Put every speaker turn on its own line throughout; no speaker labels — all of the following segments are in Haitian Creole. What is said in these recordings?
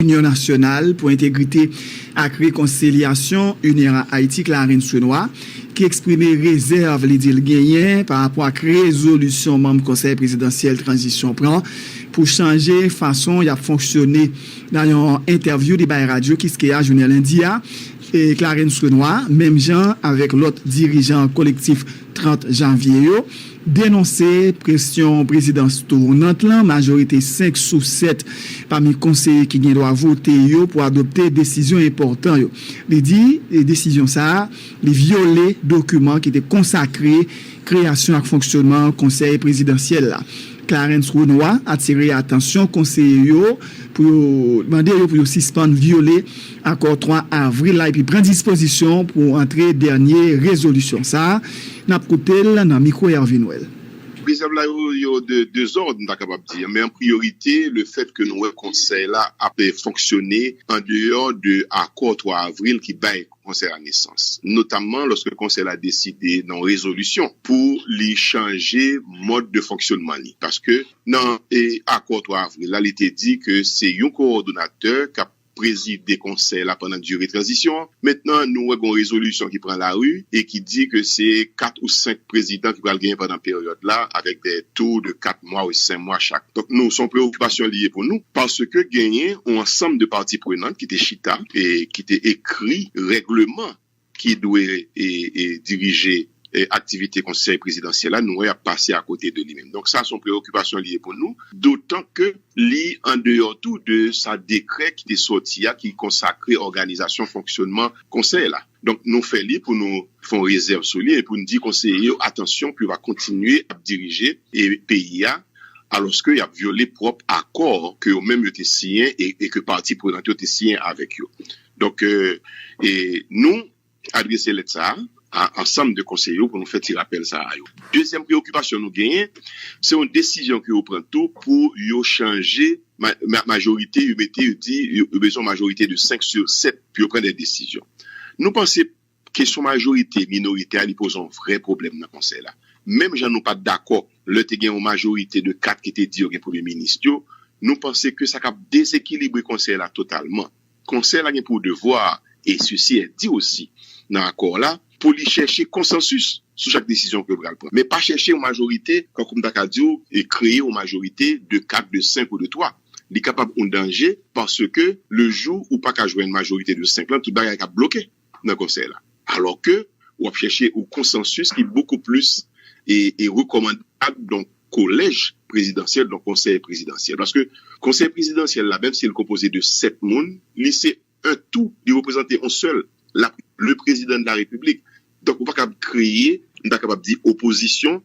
Inyon Nasyonal pou Entegrite ak Rekonsilyasyon, UNIRA Haïti, Clarens Renois, ki eksprime rezèv li di l genyen pa rapò ak rezolisyon manm Konsèy Prezidansyèl Tranzisyon pran pou chanje fason y ap fonksyone. Nan yon entèvyou li bay Radyo Kiskeya jounen lendi a, Clarens Renois, menm jan avèk lòt dirijan Kolektif 30 Janvye yo, denonse presyon prezidans tounant lan, majorite 5 sou 7 pami konseye ki gen dwa vote yo pou adopte desizyon enpòtan yo. Li di desizyon sa a, li vyole dokiman ki te konsakre kreyasyon ak fonksyonman Konsèy Prezidansyèl la. Clarens Renois atire atansyon konseye yo pou yo mande yo pou yo sispann vyole Akò 3 avril la epi pran dispozisyon pou antre dènye rezolisyon sa a. N ap koute l nan mikwo Hervé Noël. Rezèv la yo,
yo de 2 zòd m ta kapab di. Men an priyorite, lefètke nou wè konsèy la ap fonksyone andeyò de akò 3 avril ki bay konsèy la nesans. Notamman lòske konsèy la deside nan yon rezolisyon pou li chanje mòd de fonksyonman li. Paske nan akò 3 avril la li te di ke se yon kowòdonatè k ap prezide konsèy la pandan dire tranzisyon an. Mentnan nou wè gen yon rezolisyon ki pran lari e ki di ke se 4 ou 5 prezidan ki pral genyen pandan peryòd la avèk de tou de 4 mwa ou 5 mwa chak. Donk nou, se yon preokipasyon li ye pou nou paske genyen yon ansanm de pati prenant ki te chita e ki te ekri règleman. ki dwe dirije aktivite konsèy prezidansyèl la, nou wè y ap pase akote de li menm. Donk sa se yon preyokipasyon li ye pou nou, dotan ke li andeyò tou de sa dekrè ki te sòti a ki konsakre òganizasyon fonksyònman konsèy la. Donk nou fè li pou nou fè yon rezèv sou li e pou nou di konseye yo atansyon pou yo pa kontinye ap dirije peyi a alòske y ap vyole pwòp akò ke yo menm yo te siyen e ke pati prenant yo te siyen avèk yo. Donk, nou adrese lèt sa a a ansanm de konseye yo pou nou fè ti rapèl sa a yo. Dezyèm preyokipasyon nou genyen, se yon desizyon ke yo pran tou pou yo chanje majorite, yo mete, yo di yo bezwen yon majorite de 5 sur 7 pou yo pran de desizyon. Nou panse Kesyon majorite, minorite a li poze yon vrè pwoblèm nan konsèy la. Menm jan nou pa t dakò lè te gen yon majorite de 4 ki te di yo gen premye minis yo, nou panse ke sa kab dezekilibre konsèy la totalman. Konsèy la gen pou devwa, e sesi è di osi nan akò la, pou li chèche konsansis sou chak desizyon ke yo pral pran, men pa chèche yon majorite, tankou m ta ka di w, e kreye yon majorite de 4, de 5 ou de 3. Li kapab yon danje paske le jou ou pa ka jwenn majorite de 5 lan, tout bagay kab bloke. nan konsèy la, alò ke ou ap chèche yon konsansis ki bokou plis e rekòmandab, donk kolèj prezidansyèl, donk konsèy prezidansyèl. Paske konsèy prezidansyèl la, menm si li konpoze de 7 moun, li se 1 tou, li reprezante yon sèl, le prezidan de la repiblik. Donk ou pa kab kreye, m ta kapab di opozisyon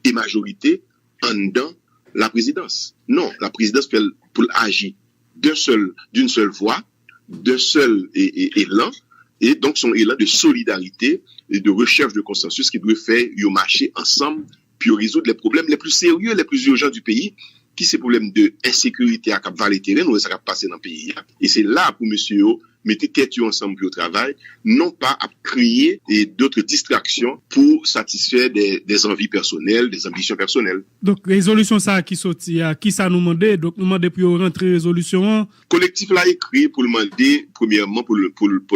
e majorite anndan la prezidans. Non, la prezidans fè l pou l aji d'un seul, d'une seule voix, d'un seul elan e donk son elan de solidarite e de recherche de consensus ki dwe fè yo mache ansanm pou yo rezoud les problèmes les plus sérieux, les plus urgents du pays ki se problèmes de ensekirite a kap vale teren, nou wè sa kap pase nan peyi a e se la pou mesye yo mete tèt yo ansanm pou yo travay non pa ap kreye d'autres distractions pou satisfè des envies personnelles, des ambitions personnelles. Donk rezolisyon
sa ki soti a kisa nou mande, donk nou mande pou yo rantre rezolisyon an. Kolektif la ekri
pou l mande premyèman pou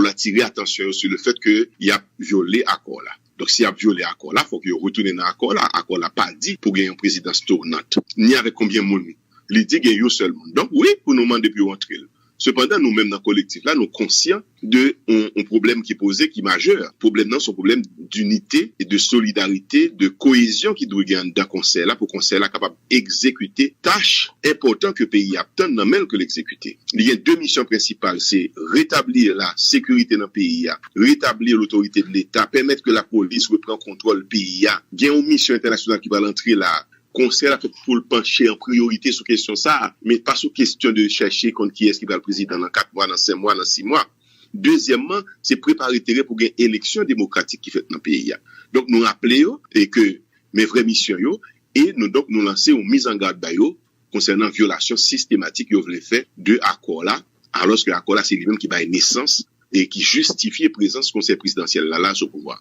l atire atansyon yo sou le fèt ke y ap vyole akò la. Donk si y ap vyole akò la, fòk yo retounen nan akò la. Akò la pa di pou gen yon prezidans tounant, ni avèk konbyen moun. Li di gen yon sèl moun. Donk wi, pou nou mande pou yo antre l. Sepandan, nou menm nan kolektif la, nou konsyan de yon pwoblèm ki poze, ki majè. Pwoblèm nan se yon pwoblèm dinite, de solidarite, de koyezyon ki dwe gen anndan Konsèy la pou Konsèy la kapab egzekite tach enpòtan ke peyi a ap tann nan men l ke l egzekite. Li gen de misyon prensipal, se retabli lasekirite nan peyi a, retabli lotorite de Leta, pèmèt ke lapolis repran kontwòl peyi a. Gen yon misyon entènasyonal ki pral antre la a, Konsèy la fèt pou l panche an priyorite sou kesyon sa a, men pa sou kesyon de chèche konn kiyès ki pral prezidan nan 4 mwa, nan 5 mwa, nan 6 mwa. Dezyèmman, se prepare teren pou gen eleksyon demokratik ki fèt nan peyi a. Donk nou raple yo ke men vrè misyon yo e nou donk nou lanse yon mizangad ba yo konsènan vyolasyon sistematik yo vle fè de akò la, alòske akò la se li menm ki bay nesans e ki jistifye prezans Konsèy Prezidansyèl la la sou pouvwa.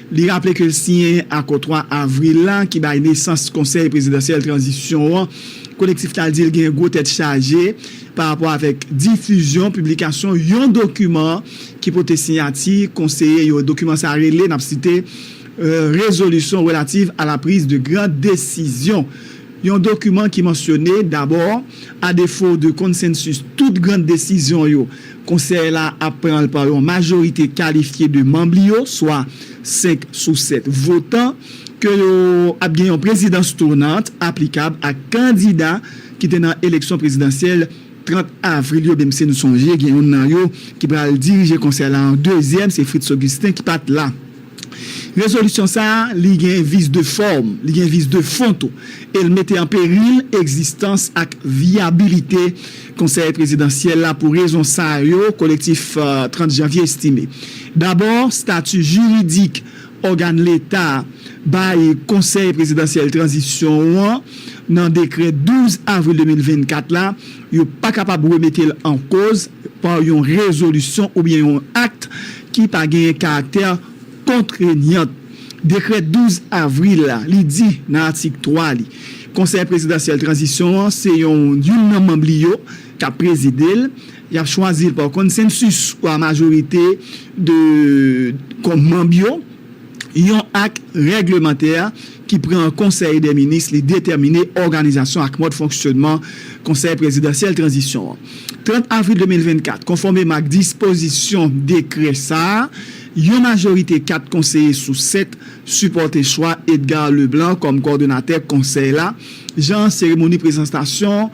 Li raple ke l siyen akò 3 avril la ki bay nesans Konsèy Prezidansyèl Tranzisyon an, Kolektif la di l gen gwo tèt chaje pa rapò avèk difizyon, piblikasyon, yon dokiman ki pote siyati konseye yo. Dokiman sa rele, n ap site, Résolution relative à la prise de grandes décisions, yon dokiman ki mansyone, dabò, a defo de konsensis tout gran desizyon yo, Konsèy la ap pran pa yon majorite kalifye de manm li yo, swa 5 sou 7 votan, ke yo ap gen yon prezidans tounant aplikab a kandida ki te nan eleksyon prezidansyèl 30 avril yo, menmsi nou sonje gen youn nan yo ki pral dirije konsèy la an dezyèm, se Fritz Augustin ki pa t la. Rezolisyon sa a, li gen vis de fòm, li gen vis de fon tou, e l mete an peril egzistans ak vyabilite Konsèy Prezidansyèl la pou rezon sa yo, Kolektif 30 Janvye estime. Dabò, stati jiridik ògàn Leta bay Konsèy Prezidansyèl Tranzisyon an nan dekrè 12 avril 2024 la, yo pa kapab remete l an koz pa yon rezolisyon oubyen yon akt ki pa genyen karaktè kontrenyant dekrè 12 avril la, li di nan atik 3 li, Konsèy prezidansyèl tranzisyon an se yon youn nan manm li yo k ap prezide l, y ap chwazi l pa konsensus ou a majorite de kòm manm yo. yon ak règlemantè ki pran an Konsèy dè Minis li detèmine òganizasyon ak mòd fonksyònman Konsèy Prezidansyèl Tranzisyon an. 30 avril 2024, konfòmeman ak dispozisyon dekrè sa a, yon majorite 4 konseye sou 7 sipòte chwa Edgar Leblanc kòm kòdonatè Konsèy la, jan seremoni prezantasyon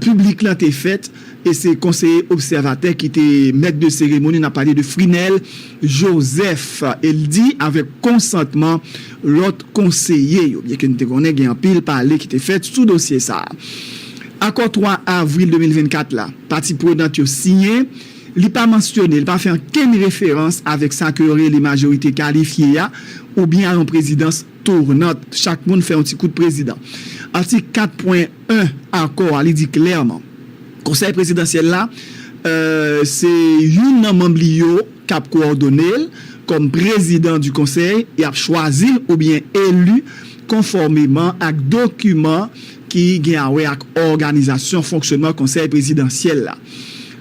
piblik lan te fèt e se konseye obsèvatè ki te mèt de seremoni, n ap pale de Frinel. Joseph, e l di avèk konsantman lòt konseye yo, byenke n te konnen gen anpil pale ki te fèt sou dosye sa a. Akò 3 avril 2024 la, pati prenant yo siyen, li pa mansyone, li pa fè ankenn referans avèk sa ke yo rele majorite kalifye a oubyen a yon prezidans tounant, chak moun fè yon ti kout prezidan. Atik 4 pwen 1 akò a, li di klèman. Konsèy Prezidansyèl la, se youn nan manm li yo k ap kowòdone l kòm prezidan di konsèy, y ap chwazi l oubyen eli konfòmeman ak dokiman ki gen a wè ak òganizasyon fonksyonman Konsèy Prezidansyèl la.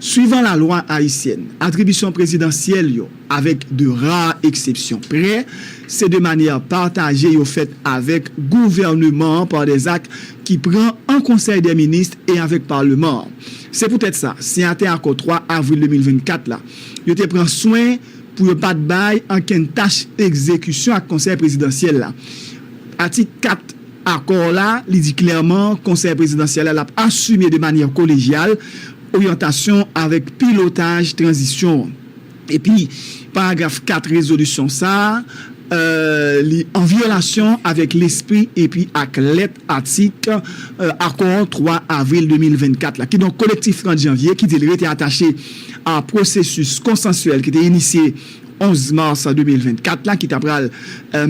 Swivan lalwa ayisyèn, atribisyon prezidansyèl yo, avèk de ra eksepsyon prè, se de manyè pataje yo fèt avèk gouvèneman an pa dè zak ki pran an Konsèy dè Minis e avèk Paleman an. Se poutèt sa, siyatè Akò 3 avril 2024 la yo te pran swen pou yo pa t bay ankenn tach egzekisyon ak Konsèy Prezidansyèl la. Atik 4 Akò la, li di klèman Konsèy Prezidansyèl la l ap asime de manyè kolejyal oryantasyon avèk pilotaj tranzisyon an. Epi, paragraf 4 rezolisyon sa a, li an vyolasyon avèk lespri epi ak lèt atik akò 3 avril 2024 la. Kidonk, Kolektif 30 janvye, ki di li rete atache a pwosesis konsansyèl ki te inisye 11 mas 2024 la, ki ta pral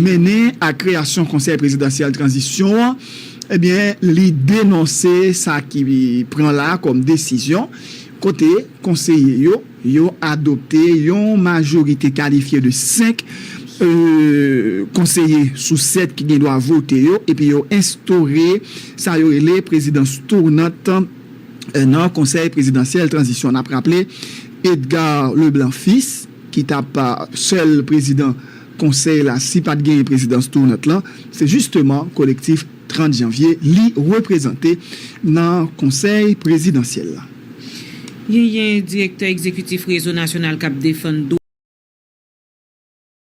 mennen a kreyasyon Konsèy prezidansyèl tranzisyon an, ebyen, li denonse sa ki pran la a kòm desizyon, kote konseye yo. yo adopte yon majorite kalifye de 5 konseye sou 7 ki gen dwa vote yo epi yo enstore sa yo rele prezidans tounant nan Konsèy Prezidansyèl Tranzisyon. N ap raple Edgar Leblanc Fils ki t ap sèl prezidan konsèy la si pa t genyen prezidans tounant lan, se jisteman Kolektif. 30 janvye li reprezante nan konsèy prezidansyèl
la. Genyen direktè egzekitif Rezo Nasyonal k ap Defann.